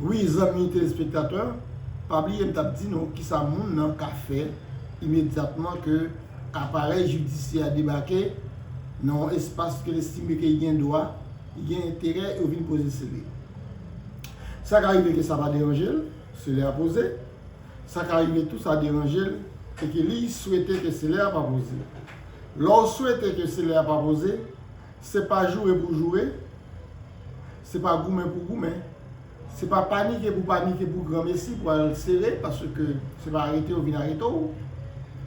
Wi zanmi telespektatè, pa bliye m t ap di nou kisa moun nan ka fè imedyatman ke aparèy jidisyè a debake nan yon espas ke l estime ke li gen dwa, li gen enterè yo vin poze sele. Sa ka rive ke sa pa deranje l, sele a poze, sa ka rive tou sa deranje l e ke li swete ke sele a pa poze. Lè w swete ke sele a pa poze, Se pa joure pou joure, se pa goumen pou goumen, se pa panike pou panike pou granmesi pou al sere paske se pa arete yo vin arete w.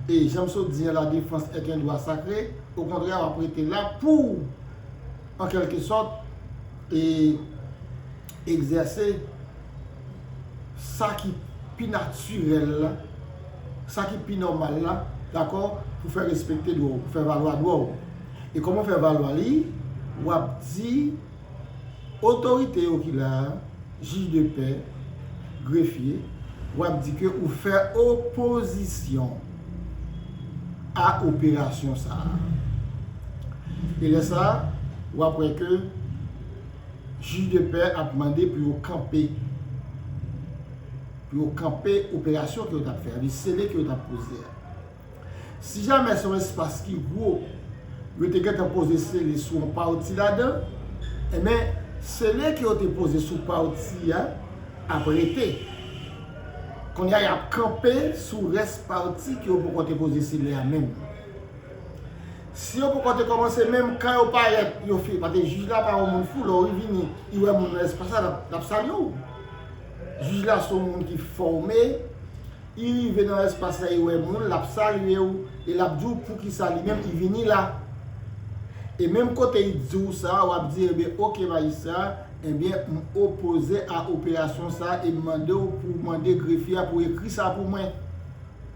E jan m sot di an la defans et un dwa sakre, okontrè w ap rete la pou w an kelke sòt e. Egzèse sa ki pi natirèl la, sa ki pi nòmal la, dakò, pou fè respekte dwa w, pou fè valwa dwa w. E kòman w fè valwa li? W ap di otorite yo ki la a, jij de pè, grefye, w ap di ke ou fè opozisyon a operasyon sa a. E lè sa a, w ap wè ke. Jij de pè ap mande pou yo kanpe pou yo kanpe operasyon ke yo tap fè a, li sele ke yo tap poze a. Si jamè se yon espas ki gwo, yo te gentan poze sele sou yon pati ladan, enben sele ke yo te poze sou pati a ap rete. Kounye a yap kanpe sou rès pati ke yo poko te poze sele a menm. Si yo poko te komanse menm kan yo paret yo fini paske jij la pa yon moun fou lè ou vini li wè moun nan espas la lap salye w jij la son moun ki fòme li rive nan espas la li wè moun lap salye w e lap di w poukisa li menm li vini la e menm kote li di w sa wap di ebyen ok majistra ebyen m opoze a operasyon sa e m mande w pou w mande grefye a pou ekri sa pou mwen.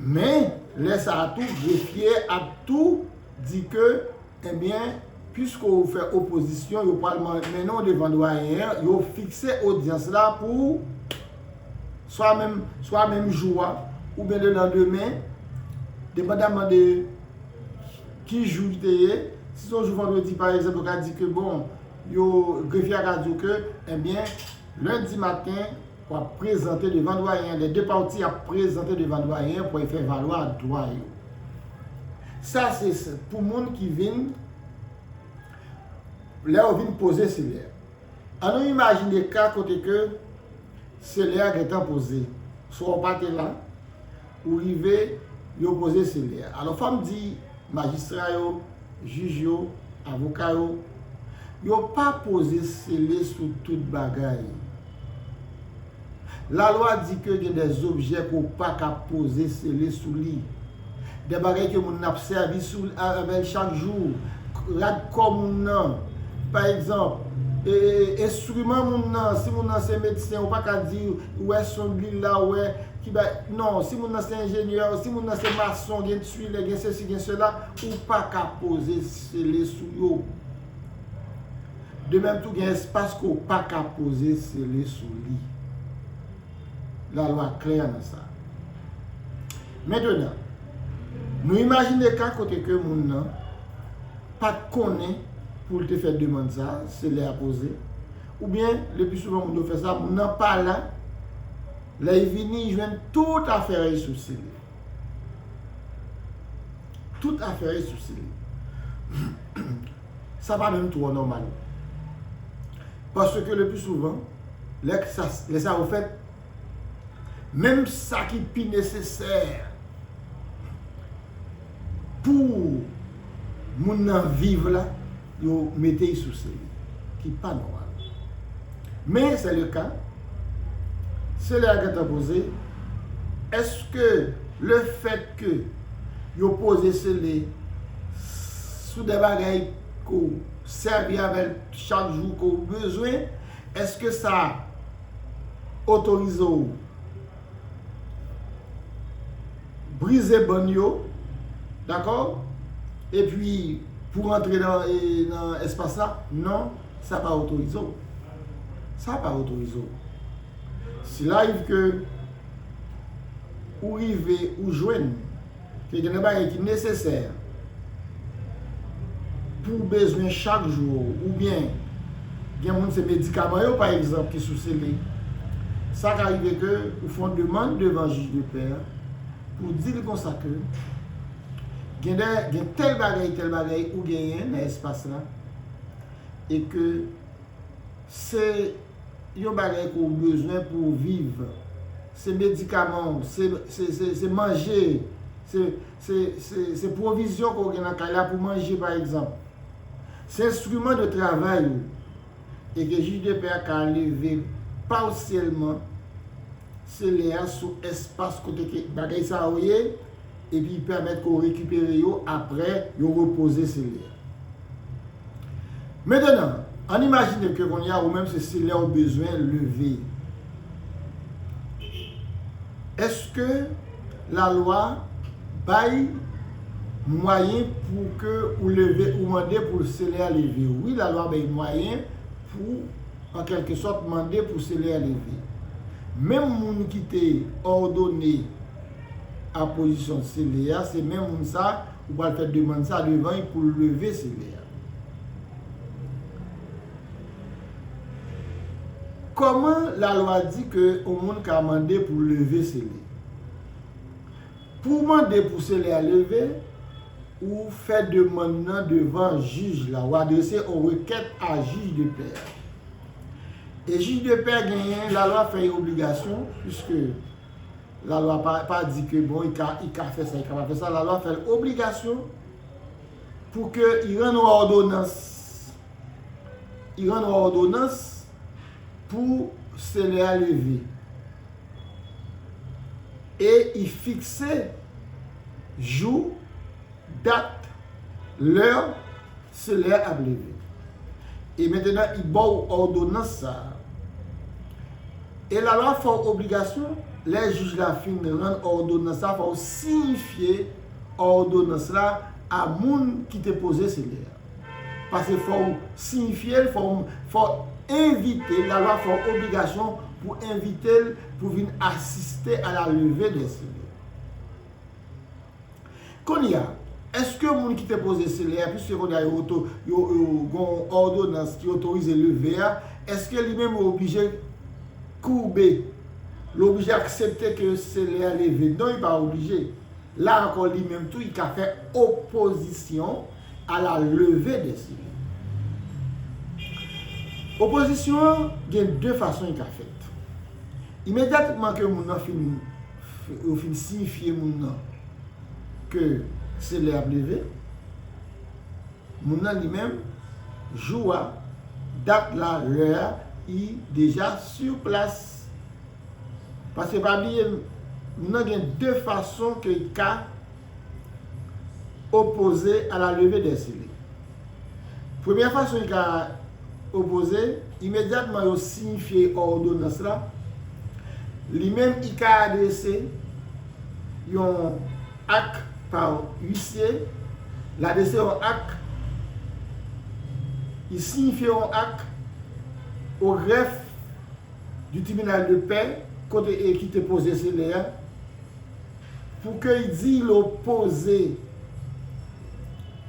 Men, lè sa a tou, grefye a ap tou di ke, enben, piske ou fè opozisyon, yo pral mennen ou devan dwayen an, yo fikse odyans la pou swa menm, swa menm jou a, oubyen le landemen, depandaman de ki jou li te ye. Si se yon jou vandredi, pa egzanp, yo ka di ke, bon, yo, grefye a ka di ou ke, enben, lendi maten, Wap prezante devan Dwayen an de de pati ap prezante devan Dwayen an pou y fè valwa dwa yo. Sa se pou moun ki vin lè yo vin poze selè. An nou imajine ka kote ke selè a gentan poze, swa w pa te la, Ou rive, yo poze sele a. Alò fò m di majistra yo, jij yo, avoka yo, yo pa poze sele sou tout bagay. Lalwa di ke gen de zobjè ke w pa ka poze sele sou li. De bagay ke moun nan ap sèvi sou, avè l chak jou, rad kò moun nan, pa egzanp, enstriman moun nan, si moun nan se medsen, ou pa ka di, ou wè sond li la, ou wè. Ki bay non si moun nan se enjenyè si moun nan se mason gen tuilè gen sesi gen sela ou paka poze sele sou yo de menm tou gen espas ke ou paka poze sele sou li la lwa klè nan sa mentenan nou imajine ka kote ke moun nan pat konnen pou l te fè demand sa sele a poze oubyen le pi souvan moun yo fè sa moun nan pa la. Lè y vini, y jwenn tout afè y sou si li. Tout afè y sou si li. Sa pa menm twò nòmal. Paske lepli souvan, lè sa yo fèt, menm sa ki pi nesesè Pou moun nan viv la, yo mete y sou sey ki pa nòmal. Men se le ka, se lè a gen tan poze, eske le fèt ke yo poze sele sou de bagay ke w sèvi avè l chak jou ke w bezwen, eske sa otorize w? brize ban yo dakò epi pou rantre nan espas la non sa pa otorize w sa pa otorize w si la rive ke ou rive ou jwenn Ke gen de bagay ki nesesè pou w bezwen chak jou ou, oubyen gen moun se medikaman yo pa egzanp ki sou sele, sa ka rive ke ou fè yon demann devan jij de pè a pou w di li konsa ke gen de, gen tèl bagay, tèl bagay ou genyen nan espas la e ke. Se Yon bagay ke w bezwen pou w viv. Se medikaman w, se manje, se pwovizyon ke w gen nan kay la pou manje pa egzanp. Se enstriman de travay ou. E ke jij de pè a ka leve pasyèlman sele a sou espas kote ke bagay sa yo ye, epi pèmèt ke w rekipere yo apre yo repoze sele a. Mentenan, ann imajine ke kounye a ou menm se selè ou bezwen leve. Èske lalwa bay mwayen pou ke ou leve, ou mande pou selè a leve? Wi, lalwa bay mwayen pou an kèlke sòt mande pou selè a leve. Menm moun ki te òdone apozisyon selè a, se menm moun sa, Ou pral fè demann sa devan li pou l leve seve a. Kòman lalwa di ke yon moun ka mande pou leve seve? Pou w mande pou seve a leve, ou fè demann nan devan jij la. Ou adrese yon rekèt a jij de pè a. E jij de pè genyen, lalwa fè yon obligasyon, piske. La lwa pa pa di ke bon i ka i ka fè sa i ka pa fè sa la lwa fèl obligasyon pou ke i rann ou òdonans i rann ou òdonans pou se lè a leve e i fikse jou dat lè Se lè a ap leve. E mentenan I ba w òdonans sa a. E lalwa fè w obligasyon, lè jij la fin rann òdonans la, fò w siyifye òdonans la a moun ki te poze se lè a. Pase fò w siyifye l, fò w fò w envite l, lalwa fè w obligasyon pou envite l pou vin asiste a la leve dè se lè. Kounye a, èske moun ki te poze sele a, piske kounye a yo oto, yo, yo gen yon òdonans ki otorize leve a, èske li menm li oblije koube, li oblije aksepte ke sele a leve? Non li pa oblije. La ankò li menm tou li ka fè opozisyon a la leve de sele. Opozisyon an gen de fason li ka fèt. Imedyatman ke moun nan fin. Yo fin siyifye moun nan ke se lè ap leve. Moun nan li menm, jou a, dat la, lè a, i deja sur plas. Paske pa bliye, moun nan gen 2 fason ke i ka. opoze a la leve dè sele. Premyè fason y ka opoze, imedyatman yo siyifye òdonans la, li menm y ka adrese yon ak pa uisye, l adrese yon ak, y siyifye yon ak o grèf di tribinal de pè kote e ki te poze sele a, Pou ke y di y lo poze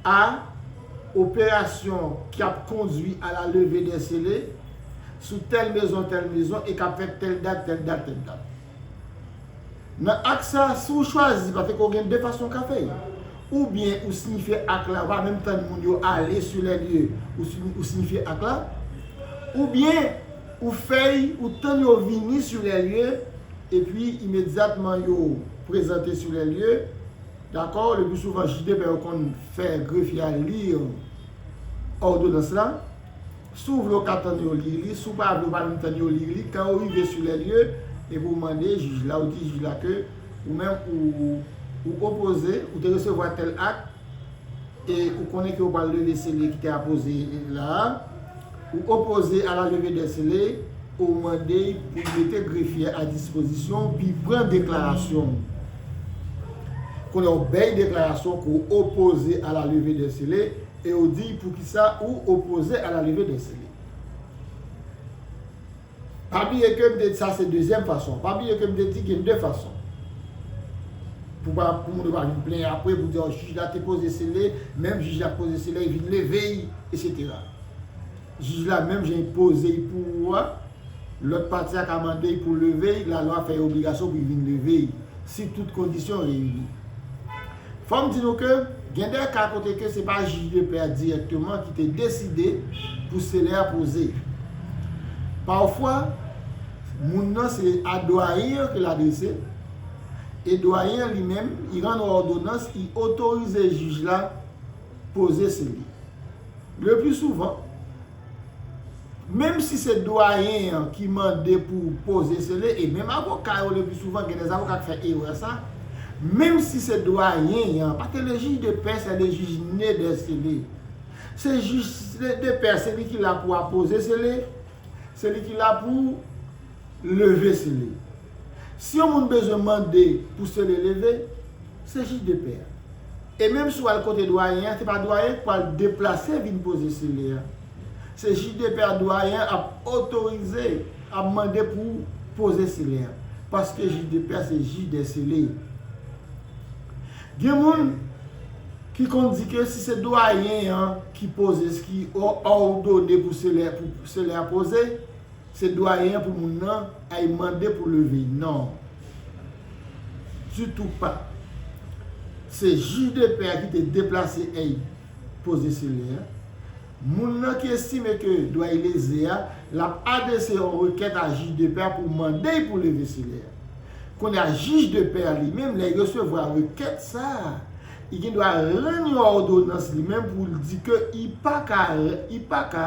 a operasyon ki ap kondwi a la leve dè sele sou tèl mezon tèl mezon e k ap fèt tèl dat tèl dat tèl dat. Nan ak sa a, si w chwazi paske ou gen de fason w ka fè l. Oubyen ou siyifye ak la, ou pa menm tann moun yo ale su lè lye, ou siyifye ak la. Oubyen. Ou fèy ou tann yo vini sur les lieux et puis imediatman yo prezante sur les lieux dakò le plus souvent judp yo konn fè grefye a lire òdonans la si w vle w ka tann yo lire li si w pa vle w pa menm tann yo lire li kan yo rive sur les lieux epi w mande jij la ou di jij la ke ou menm ou ou opoze ou te resevwa tèl akt e ou konnen ke ou pral leve sele ki te apoze la a, ou opoze a la leve dè sele, ou mande pou l mete grefye a dispozisyon ou pi pran deklarasyon ou. Kounye a ou bèy deklarasyon ke w opoze a la leve dè sele e ou di poukisa ou opoze a la leve dè sele. Pa bliye ke m te di sa se dezyèm fason an. Pa bliye ke m te di gen 2 fason. Pou pa, pou moun yo pa vin plenyen apre pou di, oh jij la te poze sele, menm jij la k poze sele y vin leve y, eksetera. Jij la menm jan y poze y pou ou a, lòt pati a ka mande y pou leve y, lalwa fè y obligasyon pou y vin leve y, si tout kondisyon reyini. Fò m di nou ke gen de ka kote ke se pa jij de pè a dirèkteman ki te deside pou sele a poze. Pafwa, moun nan se a dwayen an ke l adrese, e dwayen an li menm, i rann on òdonans, i otorize jij la poze sele. Le pli souvan. Menm si se dwayen an ki mande pou w poze sele, e menm avoka yo lepi souvan gen dè avoka k fè erè sa, menm si se dwayen an, pa te le jij de pè sè le jij ne dè sele. Se jij de pè se li ki la pou apoze sele, se li ki la pou leve sele. Si yon moun bezwen mande pou sele leve, se jij de pè a. E menm si w al kote dwayen an, se pa dwayen an ki pral deplase vin poze sele a. Se jij de pè a dwayen an ap otorize, ap mande pou poze sele a. Paske jij de pè a se jij dè sele. Gen moun ki konn di ke si se dwayen an ki poze, ki òdone pou sele a poze, Se doyen an pou moun nan ay mande pou leve non. Ditou pa. Se jij de pè a ki te deplase ey poze sele a. Moun nan ki estime ke doyen leze a, l ap adrese yon rekèt a jij de pè a pou mande y pou leve sele a. Kounye a jij de pè a li menm lè y resevwa rekèt sa a, y gen dwa rann yon òdonans li menm pou l di ke y pa ka, y pa ka.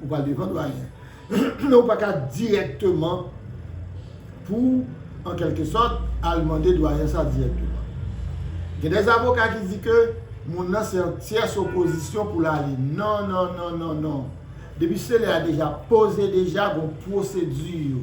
Ou pral devan dwayen. Men ou pa ka dirèkteman pou w an kèlke sòt al mande dwayen sa dirèkteman. Gen dè avoka ki di ke moun nan se yon tyès opozisyon pou l ale. Non, non, non, non, non. Depi selè a deja poze deja gon pwosedi yo.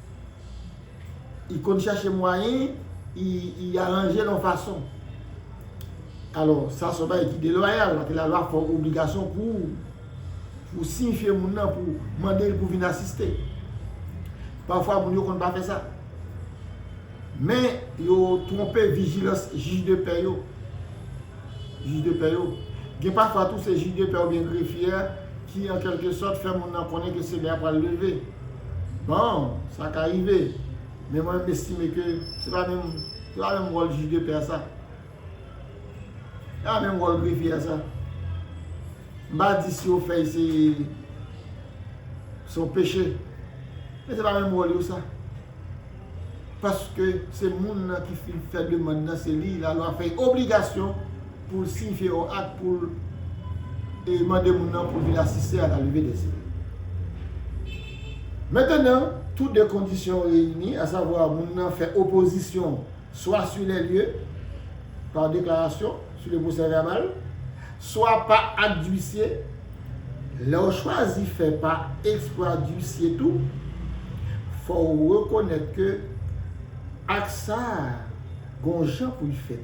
I konn chache mwayen, i aranje l yon fason. Alò, sa se yon bagay ki deloyal, paske lalwa fè w obligasyon pou ou siyifye moun nan, pou ou mande l pou vin asiste. Pafwa moun yo konn pa fè sa. Men, yo twonpe vijilans jij de pè yo. Jij de pè yo. Gen pafwa tou se jij de pè oubyen grefye a ki an kèlke sòt fè moun nan konnen ke semè a pral leve. Bon, sa ka rive. Men mwen m estime ke se pa menm se pa menm wòl jij de pè a sa. Se pa menm wòl grefye a sa. M pa di si yo fè l se se yon peche. Men se pa menm wòl yo sa. paske se moun nan ki fin fè demann nan se li lalwa fè obligasyon pou l siyifye yon ak pou l mande moun nan pou l vin asiste a la leve dè sèl. Mentenan, tou de kondisyon reyini, asavwa moun nan fè opozisyon, swa sur les lieux, par déclaration, sur le procès verbal, swa pa ak dwisye, lè w chwazi fè pa eksplwa dwisye tou, fò w rekonèt ke ak sa a gon jan pou l fèt.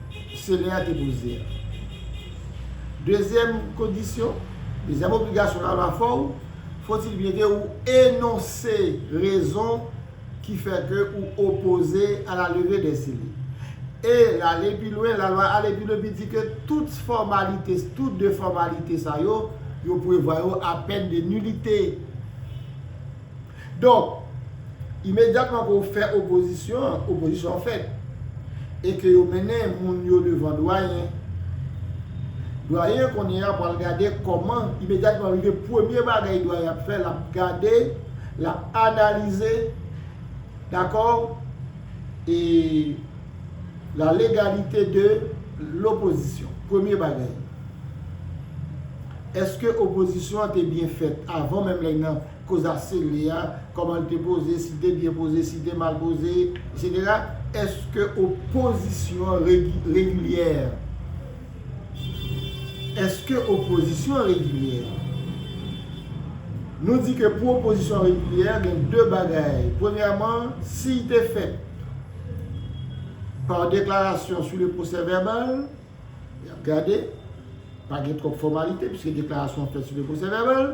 Senè a te poze a. Dezyèm kondisyon, dezyèm obligasyon lalwa fè w, fòtil byen ke ou enonse rezon ki fè ke ou opoze a la leve dè seli. E lale pi lwen, lalwa ale pi lwen pi di ke tout fòmalite, tout de fòmalite sa yo, yo prevwa yo a pèn de nilite. Donk, imedyatman ke w fè opozisyon an, opozisyon an fèt. E ke yo mennen moun yo devan dwayen. Dwayen an kounye a pral gade kòman, imedyatman rive premye bagay dwayen ap fè, l ap gade, l ap analize, dakò, e la legalite de lopozisyon. Premye bagay. Èske opozisyon an te byen fèt avan menm lè nan. Koz a sele a, kòman l te poze, si l te byen poze, si l te mal poze, etc. Èske opozisyon an regilyè? Èske opozisyon an regilyè? Nou di ke pou opozisyon an regilyè, gen de bagay. Premyèman, si l te fèt par déclaration sur le procès-verbal, y ap gade, pa gen twòp fòmalite, pwiske deklarasyon an fèt sou le procès-verbal.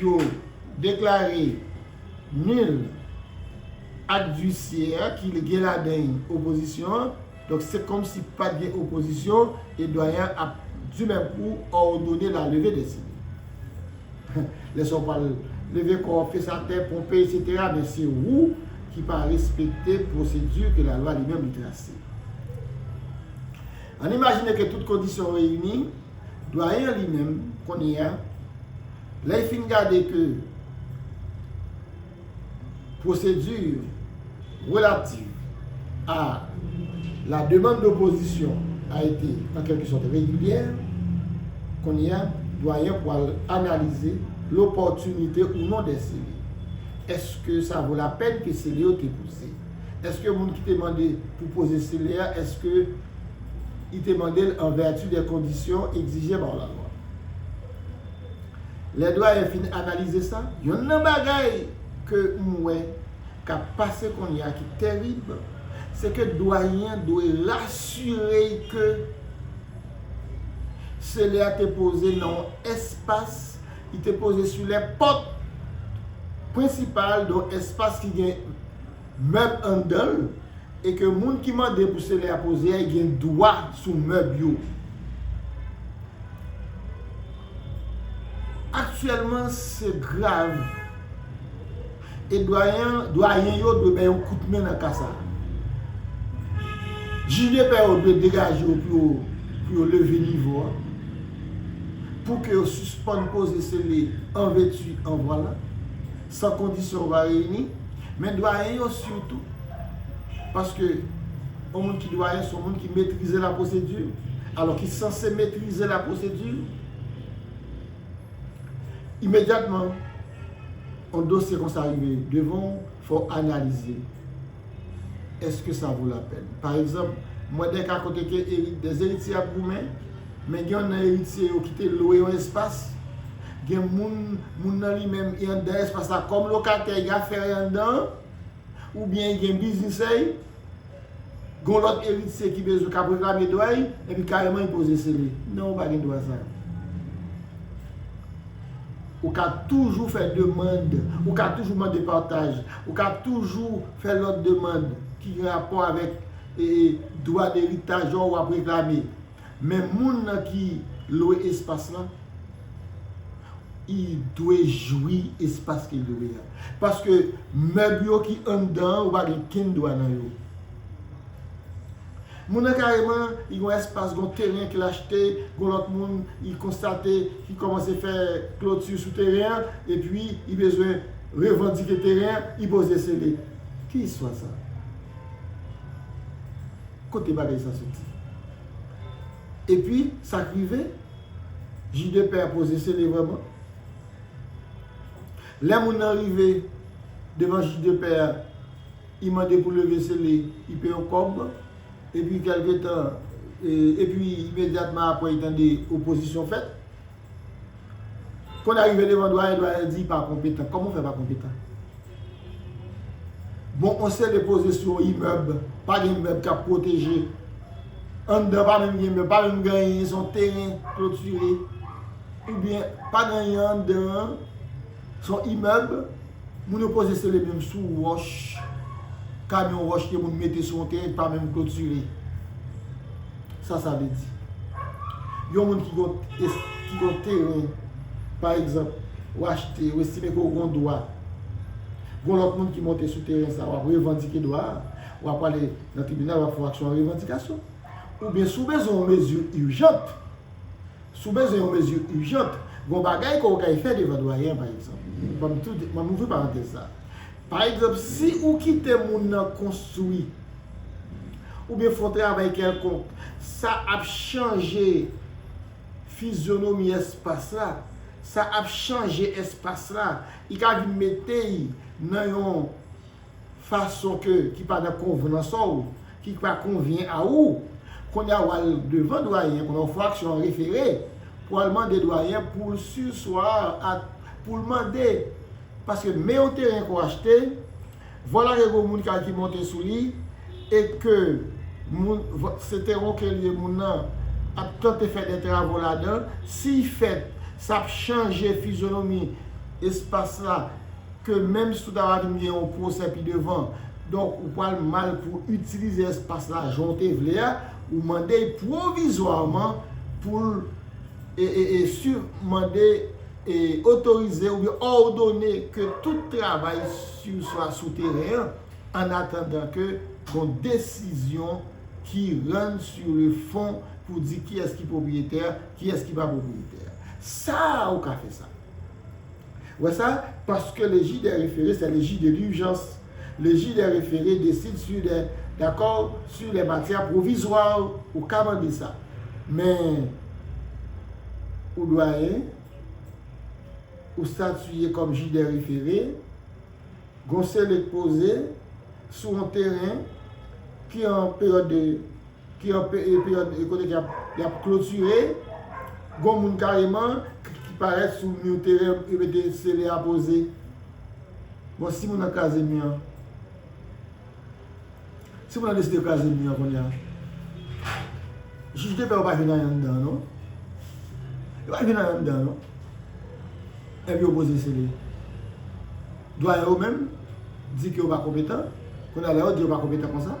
yo deklare nul ak visye a ki gen ladan y opozisyon an, donk se kòmsi pat gen opozisyon e Dwayen an ap di menm kou òdone la leve dè sini. Lè sa w pral leve kò w, fes atè, ponpe esetera men se wou ki pa respekte pwosedi ke lalwa li menm li trase. Ann imajine ke tout kondisyon reyini. Dwayen an li menm, kounye a, lè l fin gade ke pwosedi relativ a la demande d'opposition a ete an kèlke sòt regilyè, kounye a, Dwayen an pwal analize lopòtinite ou non dè sele. Èske sa vo lapèn ke sele yo te poze? Èske moun ki te mande pou poze sele a, èske. I te mande l an vèti de kondisyon egzije ba w lalwa. Lè Dwayen fin analize sa, yonn nan bagay ke m wè k ap pase kounye a ki terib, se ke Dwayen an dwe rasire y ke sele a te poze nan yon espas, li te poze sou lè pòt prensipal de yon espas ki gen mèb anndan l e ke moun ki mande pou selè a poze a gen dwa sou mèb yo. Aktyèlman se grav e dwayen yo dwe bay yon kout men nan ka sa. Jij de pè yo dwe degaje yo pou yo leve nivo a, pou ke yo sispann poze sele an vètu an vwalan. San kondisyon va reyini. Men dwayen yo sitou, paske yon moun ki dwayen son moun ki metrize la pwosedi, alò ki sanse metrize la pwosedi, imedyatman yon dosye konsa rive devan ou, fò w analize l. Eske sa vo la pèn? Pa egzanp, m wè de ka kote ke de eritye ap goumen, men gen youn nan eritye yo ki te lwe yon espas, gen moun, moun nan li menm e anndan espas la kòm lokatè, y afè y anndan an, oubyen y gen biznisè y, gen yon lòt eritye ki bezwen k ap reklame dwa y, epi kareman y poze sele. Non, ou pa gen dwa sa a. Ou ka toujou fè demand, ou ka toujou mande pataj, ou ka toujou fè lòt demand ki gen rapò avèk dwa deritaj ou ap reklame. Men moun nan ki lwe espas lan, li dwe jwi espas ke li lwe a. Paske mèb yo ki anndan an, ou pa gen kenn dwa nan yo. Moun nan kareman li gen yon espas gen yon teren ke l achte gen yon lòt moun li konstate ki kòmanse fè kloti sou teren an epi li bezwen revandike teren an li poze sele. Ki istwa sa? Kote bagay sa soti? Epi sa k rive? Jidepè a poze sele vrèman? Lè moun nan rive devan jidepè a. I mande pou leve sele i pe yon kòb. Epi kèlke tan, epi imedyatman apre i tande opozisyon fèt. Kon a rive devan dwayen, dwayen di pa konpetan. Kòman ou fè pa konpetan? Bon yon sele poze sou yon imèb, pa gen mèb k ap pwoteje. Anndan pa menm gen mèb, pa menm gen anyen, se yon teren klotire. Oubyen pa gen anyen anndan an, se yon imèb. Moun yo poze sele menm sou wòch, kamyon wòch ke moun mete sou yon teren ki pa menm klotire. Sa sa vle di? Yon moun ki gen yon teren, pa egzanp, ou achte, ou estime ke ou gen yon dwa, gen yon lòt moun ki monte sou teren sa a, w ap revandike dwa a, w a prale nan tribinal, w ap fè yon aksyon revandikasyon. Oubyen si w bezwen yon mezi ijant. Si w bezwen yon mezi ijant, gen yon bagay ke w kay fè devan Dwayen an pa egzanp. Ban m tou di, ban m ouvri parantèz sa a. Pa egzanp, si ou kite moun nan konstwi, oubyen fè yon travay kèlkonk, sa ap chanje fizyonomi espas la, sa ap chanje espas la, li ka vin mete y nan yon. fason ke ki pa nan konvnans a w, ki pa konvyen a ou, kounye a w al devan Dwayen an, kounye a w fè aksyon an refere, pou al mande Dwayen an pou l surseoir a, pou l mande, paske men yon teren ke w achte, vwala ke gen moun kay ki monte sou li, e ke moun, se teren w ke li ye, moun nan ap tante fè de travo ladan, si fèt, sa ap chanje fizyonomi espas la. ke menm si ou ta va vin gen yon pwosè pi devan, donk ou pral mal pou w itilize espas la jan w te vle a, ou mande l pwovizwaman pou l mande otorize oubyen òdone ke tout travay swa sou teren an, an atandan ke gon desizyon ki rann sou le fon pou di kiyès ki pwopriyetè, kiyès ki pa pwopriyetè. Sa a ou ka fè sa. Wè sa, paske le jij dè refere sè le jij de lurjans. Le jij dè refere desid su dè dakò su lè matyè pwovizwa. Ou ka mande sa. Men, ou dwayen, ou statiye kòm jij dè refere, gon sele k poze sou on teren ki an peryòd de. Ki yon peryòd kote ke y ap klotire, gon moun kareman ki parèt sou mi teren yo mete sele a poze. Bon si moun nan kraze mi an? Si moun nan deside kraze mi an kounya? Jij defè yo pa jwenn anyen anndan an non. Yo pa jwenn anyen anndan an non. Epi yo poze sele. Dwayen yo menm di ke yo pa konpetan. Kounya lè yo di yo pa konpetan konsa.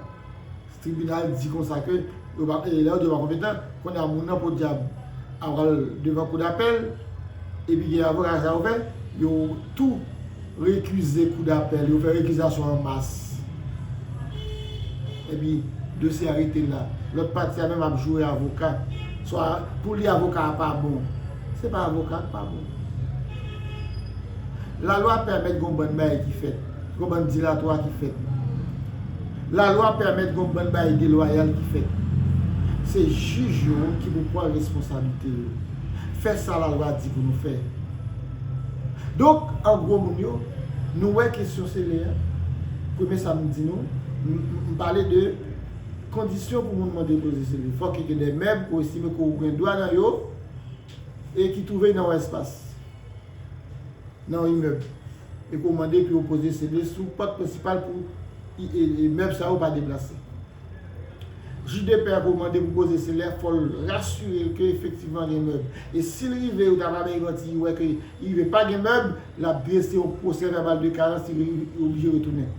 Tribinal di konsa ke yo pa lè yo di yo pa konpetan, kounye a moun nan podyab ap pral devan kou dapèl epi gen avoka sa yo fè, yo tou rekize kou dapèl, yo fè rekizasyon an mas epi dosye a rete la. Lòt pati a menm ap joure avoka, swa pou li avoka a pa bon. Se pa avoka a ki pa bon. Lalwa pèmèt gen yon bann bagay ki fèt. Gon bann dilatwa ki fèt. Lalwa pèmèt gon bann bagay delwayal ki fèt. Se jij yo ki pou pran responsablite yo. Fè sa lalwa di pou nou fè. Donk, an gwo moun yo, nou wè kesyon sele a, premye sa m di nou, m pale de kondisyon pou moun mande koze sele. Fòk yo gen de mèb ou estime ke ou gen dwa nan yo e ki twouve nan yon espas. nan yon imèb e ko mande pou yo poze CD sou pòt prensipal pou imèb sa yo pa deplase. Jij de pè a ko mande pou poze CD a fòl rasire l ke efektivman gen mèb e si l rive yo ta va bay manti li wè ke li rive pa gen mèb lap drese yon pwosè vèbal de karans li oblije retounen.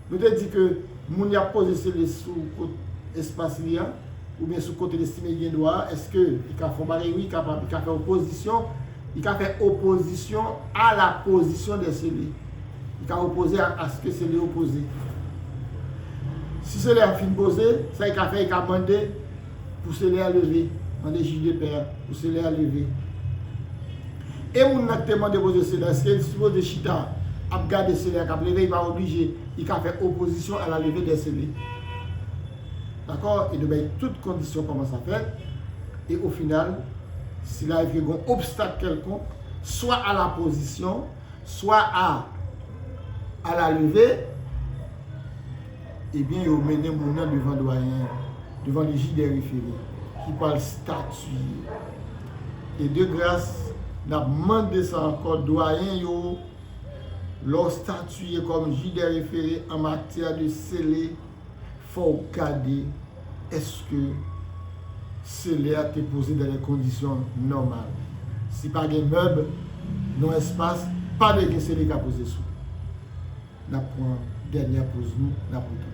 Nou te di ke moun yap poze sele sou kot espas li a, oubyen sou kote l estime li gen dwa a, eske li ka fè yon bagay? Wi, li kapab. Li ka fè opozisyon, li ka fè opozisyon a la pozisyon dè sele. Li ka opoze a aske sele yo poze. Si sele a fin poze, sa li ka fè, li ka mande Pouse lè a leve. Mande jij de pè a. Pouse lè a leve. E moun nan ki te mande poze se lè, eske li sipoze chita ap gade se lè a kap leve? Li pa oblije. Li ka fè opozisyon a la leve dè se lè. Dakò? E nou bay tout kondisyon kòman sa fèt. E o final, si la rive gon obstak kèlkonk, swa a la pozisyon, swa a a la leve, Ebyen yo mennen moun nan devan dwayen an, devan le ji dè refere ki pwal statiye. E de gras nap mande sa ankò dwayen yo lè w statiye kòm ji dè refere an matyè de sele fò w gade Eske selè a te poze dan de kondisyon nòmal? Si pa gen mèb non espas, pa dwe gen sele ka poze sou. Nap pran dènyè poz nou, nap retounen.